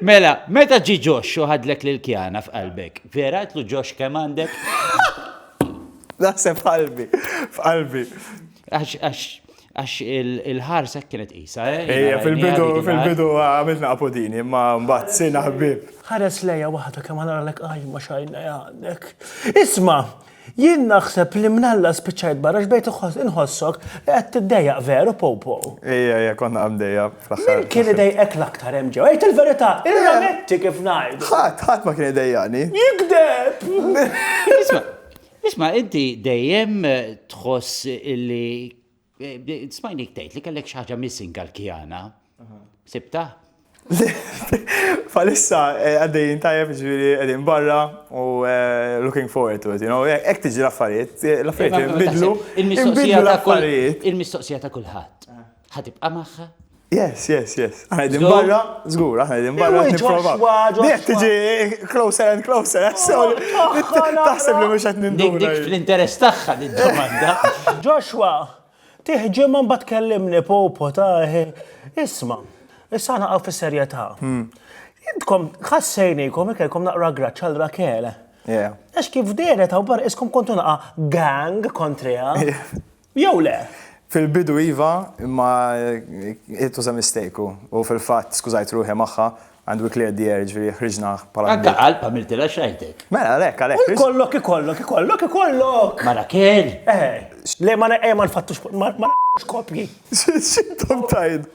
Mela, meta ġie Ġoxx u ħadlek l-ilkjana f'qalbek, vera għidtlu Ġoxx kemm għandek? Naħseb f'qalbi, f'qalbi. Għax, għax, għax il-ħarsa hekk kienet qisha, eh? Ejja, fil-bidu, fil-bidu għamiltna apodini, imma mbagħad sirna ħbieb. Ħares lejja waħda kemm ħa naralek qajma x'għajnejn għandek. Isma'! Jien naħseb li minn Alla spiċċajt barra x'bejt inħossok li qed tiddejjaq veru Popo. Ejja, ejja, konna qaddejja fl-aħħar. Min kien idejqek l-aktar hemm ġewwa? Għid il-verità, irrametti kif ngħidu. Ħadd, ħadd ma kien idejjaqni. Jigdeb! Isma', isma' inti dejjem tħoss li Smajnik tgħid li kellek xi ħaġa missing għall-kjana. Sibtha? Bħalissa eh, għaddejjin tajjeb ġifieri qegħdin barra u eh, looking forward to it, you know, eh, hekk tiġi l-affarijiet, l-affarijiet inbidlu, inbidlu l-affarijiet. Il-mistoqsija ta' kulħadd. Ħatibqa' magħha? Yes, yes, yes. Għana din barra, zgur, għana din barra. Dik tiġi closer and closer, eh, so taħseb li mux għetni Dik dik fl-interess taħħa din domanda. Joshua, tiħġi man bat kellimni popo taħi. Eh, isma, issa għana għaw fil-serjeta. Hmm. Intkom, ħassejnikom, ikelkom naqra graċċal rakele. Għax kif deret għaw bar iskom kontu naqa gang kontrija. jew le? Fil-bidu iva, imma it was a mistake u, u fil-fatt skużajt ruħi magħha and we cleared the air, ġifieri ħriġna bħala. Anke qalb għamiltilha x'għajtek. Mela għalhekk, għalhekk. U jkollok, ikollok, ikollok, ikollok! Mara kell! Eh, le ma eh, ma nfattux, ma nfattux kopji. X'intom tgħidu?